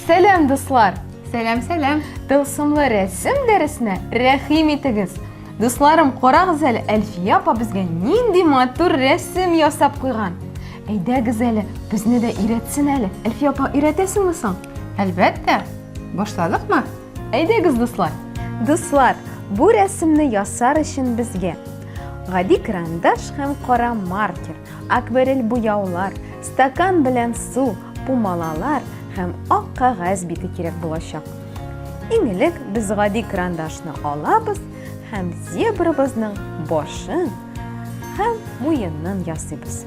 Сәләм, дуслар! Сәләм, сәләм! Тылсымлы рәсем дәресенә рәхим итегез! Дусларым, карагыз әле, Әлфия апа безгә нинди матур рәсем ясап куйган. Әйдәгез әле, безне дә өйрәтсен әле. Әлфия апа, өйрәтәсеңме соң? Әлбәттә. Башладыкмы? Әйдәгез, дуслар! Дуслар, бу рәсемне ясар өчен безгә гади карандаш һәм кара маркер, акварель буяулар, стакан белән су, пумалалар һәм ак кагаз бите кирәк булачак. Иң элек без гади карандашны алабыз һәм зебрабызның башын Һәм муеннан ясыйбыз.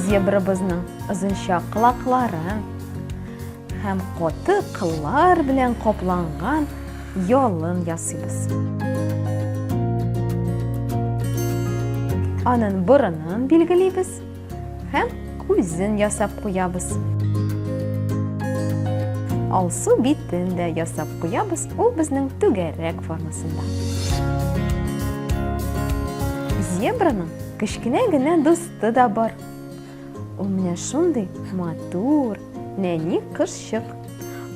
Зебрабызның озынча колакларын һәм коты кыллар белән капланган ялын ясыйбыз. Анын борынын билгелибез. Һәм күзен ясап куябыз. Алсу битен дә ясап куябыз, ул безнең түгәрәк формасында. Зебраның кечкенә генә дусты да бар. Ул менә шундый матур, нәни кызчык.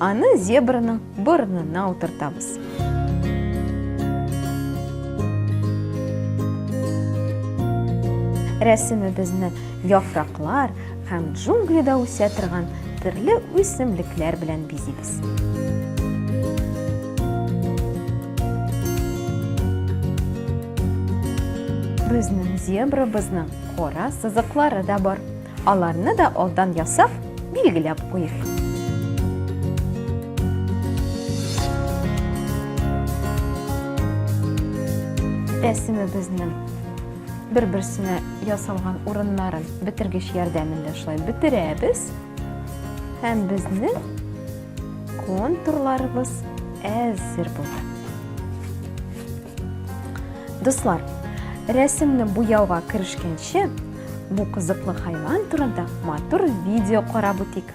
Аны зебраның борынына утыртабыз. Рәсемебезне яфраклар һәм джунглида үсә торган төрле үсемлекләр белән бизибез. Безнең зебрабызның кара сызыклары да бар. Аларны да алдан ясап, билгеләп куйыйк. рәсемебезнең бер-берсенә ясалган урыннарын бетергеч ярдәмендә шулай бетерәбез һәм безнең контурларыбыз әзер була. Дуслар, рәсемне буяуга керешкәнче, Бу кызыклы хайван турында матур видео карап үтик.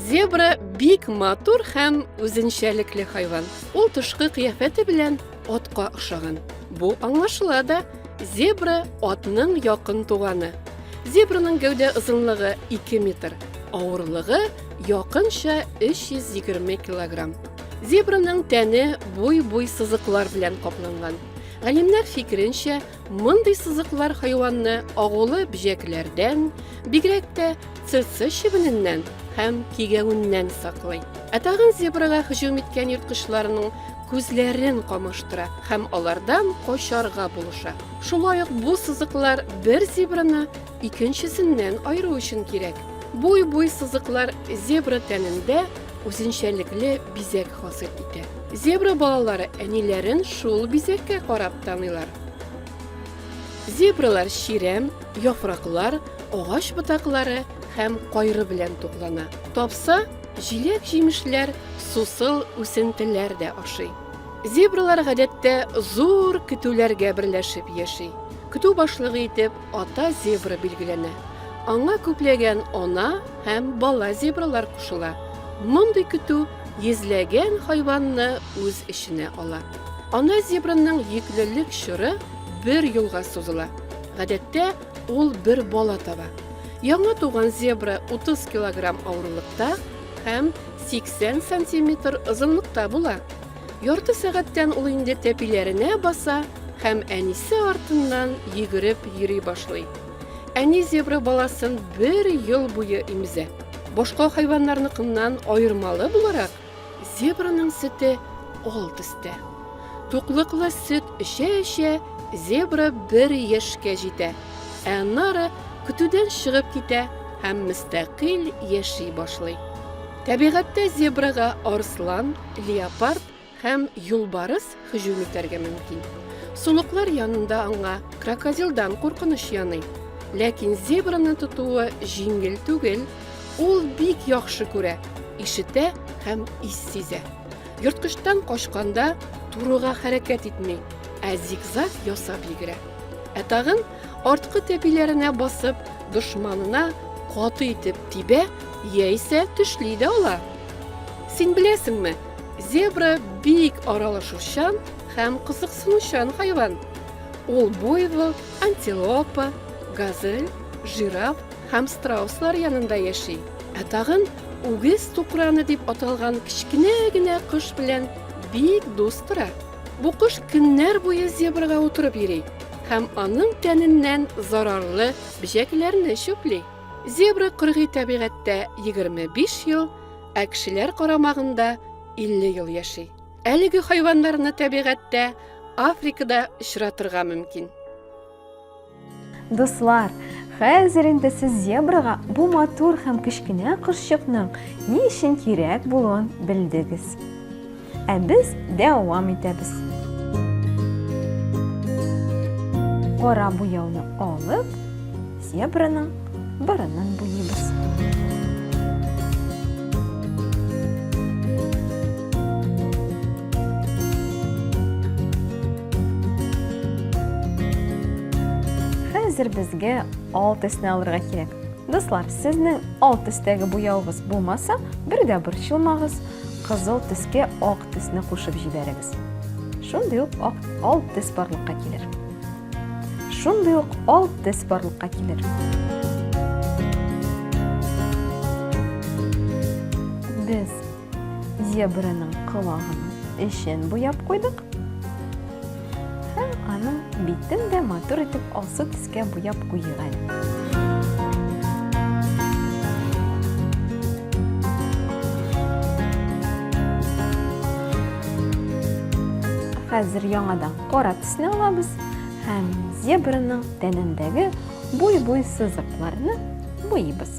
Зебра бик матур һәм үзенчәлекле хайван. Ул тышкы кыяфәте белән атка охшаган. Бу аңлашыла да, зебра атның якын туганы. Зебраның гәүдә озынлыгы 2 метр, авырлыгы якынча 320 килограмм. Зебраның тәне буй-буй сызыклар белән капланган. Галимнәр фикеренчә, мондый сызыклар хайванны агулы бөҗәкләрдән, бигрәк тә цыцы чебененнән һәм кигәвеннән саклый. Ә тагын зебрага һөҗүм иткән ерткычларның күзләрен камаштыра һәм алардан качарга булыша. Шулай ук бу сызыклар бер зебраны икенчесеннән аеру өчен кирәк. Бу буй сызыклар зебра тәнендә үзенчәлекле бизәк хасил итә. Зебра балалары әниләрен шул бизәккә карап таныйлар. Зебралар чирәм, яфраклар, агач ботаклары һәм кайры белән туклана. Тапса, җиләк-җимешләр, сусыл үсентеләр дә ашый. Зебралар гадәттә зур көтүләргә берләшеп яши. Көтү башлыгы итеп Ата зебра билгеләнә. Аңа күпләгән ана һәм бала зебралар кушыла. Мондый көтү йөзләгән хайванны үз эченә ала. Ана зебраның йөклелек чоры бер елга сузыла. Гадәттә, ул бер бала таба. Яңа туган зебра 30 килограмм авырлыкта һәм 80 сантиметр озынлыкта була. Ярты сәгатьтән ул инде тәпиләренә баса һәм әнисе артыннан йөгереп йөри башлый. Әни зебра баласын бер ел буе имезә. Башка хайваннарныкыннан аермалы буларак, зебраның сөте ал төстә. Туклыклы сөт эчә-эчә, зебра бер яшькә җитә, ә аннары көтүдән чыгып китә һәм мөстәкыйль яши башлый. Табигатьтә зебрага арыслан, леопард һәм юлбарыс һөҗүм итәргә мөмкин. Сулыклар янында аңа крокодилдан куркыныч яный. Ләкин зебраны тотуы җиңел түгел, ул бик яхшы күрә, ишетә һәм ис сизә. Йорткычтан качканда турыга хәрәкәт итми, ә зигзаг ясап йөгерә. Ә тагын арткы тәпиләренә басып, дошманына каты итеп тибә яисә төшли дә ала. Син беләсеңме, зебра бик аралашучан һәм кызыксынучан хайван. Ул буйвол, антилопа, газель, жираф һәм страуслар янында яши. Ә тагын үгез тукраны дип аталган кечкенә генә кош белән бик дус тора. Бу кош көннәр буе зебрага утырып йөри. һәм аның тәненнән зарарлы бөҗәкләрне чүпли. Зебра кыргый табигатьтә 25 ел, ә кешеләр карамагында 50 ел яши. Әлеге хайваннарны табигатьтә Африкада очратырга мөмкин. Дуслар, хәзер инде сез зебрага бу матур һәм кечкенә кошчыкның ни өчен кирәк булуын белдегез. Ә без дәвам итәбез. Кара буяуны алып, зебраның борынын буйыбыз. Хәзер безгә ал төсне алырга кирәк. Дуслар, сезнең ал төстәге буяуыгыз булмаса, бер дә борчылмагыз. Кызыл төскә ак төсне кушып җибәрегез. Шундый ук ак ал төс барлыкка килер. Шундый ук ал төс барлыкка килер. Без зебраның колагының эчен буяп куйдык. Һәм аның битен дә матур итеп алсу төскә буяп куйыйк әле. Хәзер яңадан кара төсне алабыз һәм зебраның тәнендәге буй-буй сызыкларны буйыбыз.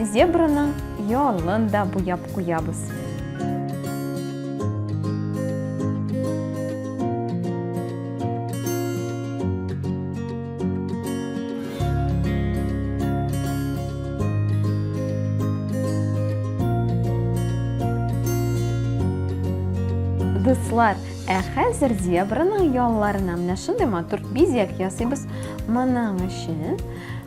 Зебраның ялын да буяп куябыз. Дуслар, ә хәзер зебраның ялларына менә шундый матур бизәк ясыйбыз. Моның өчен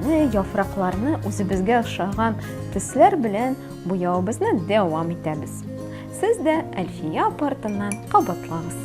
Менә яфракларны үзебезгә ошаган төсләр белән буяуыбызны дәвам итәбез. Сез дә Әлфия апа артыннан кабатлагыз.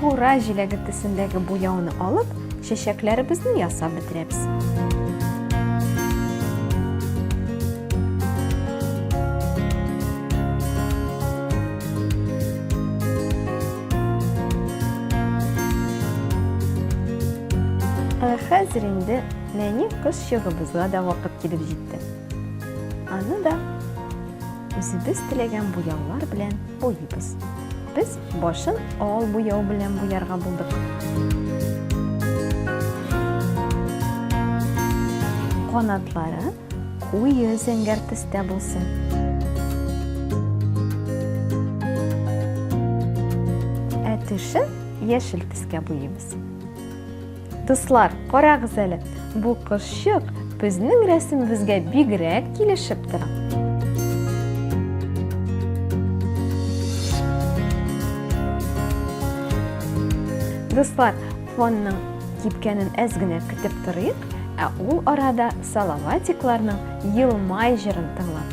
Кура җиләге төсендәге буяуны алып, чәчәкләребезне ясап бетерәбез. Хәзер инде нәни кыз чыгыбызга да вакыт килеп җитте. Аны да үзебез теләгән буяулар белән буйбыз. Без Башын ал буяу белән буярга булдык. Канатлары куе зәңгәр төстә булсын. Ә тешен яшел төскә буйыйбыз. Дуслар, карагыз әле, бу кошчык безнең рәсемебезгә бигрәк килешеп тора. Дуслар, фонның кипкәнен әз генә көтеп торыйк, ә ул арада Салаватикларның елмай җырын тыңлап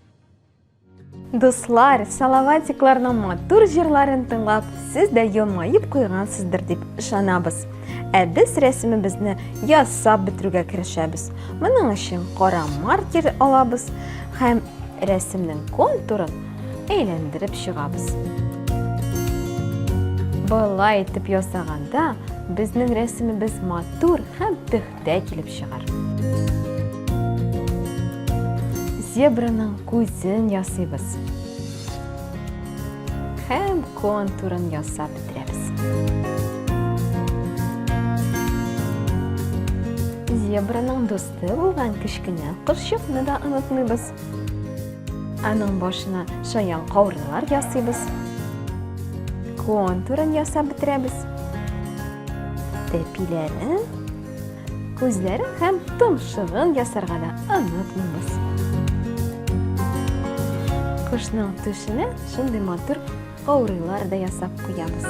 Дуслар, салаватикларның матур җырларын тыңлап, сез дә елмаеп куйгансыздыр дип ышанабыз. Ә без рәсемебезне ясап бетерүгә керешәбез. Моның өчен кара маркер алабыз һәм рәсемнең контурын әйләндереп чыгабыз. Болай итеп ясаганда, безнең рәсемебез матур һәм дә килеп чыгар. Зебраның күзен ясыйбыз. Һәм контурын ясап бетерәбез. Зебраның дусты булган кечкенә кошчыкны да онытмыйбыз. Аның башына шаян каурыйлар ясыйбыз. Контурын ясап бетерәбез. Тәпиләрен, күзләрен һәм томшыгын ясарга да онытмыйбыз. Кошның төшенә шундый матур каурыйлар да ясап куябыз.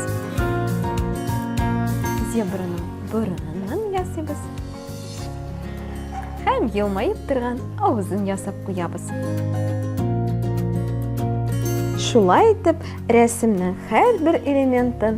Зебраның борынын ясыйбыз. Һәм елмаеп торган авызын ясап куябыз. Шулай итеп, рәсемнең һәрбер элементын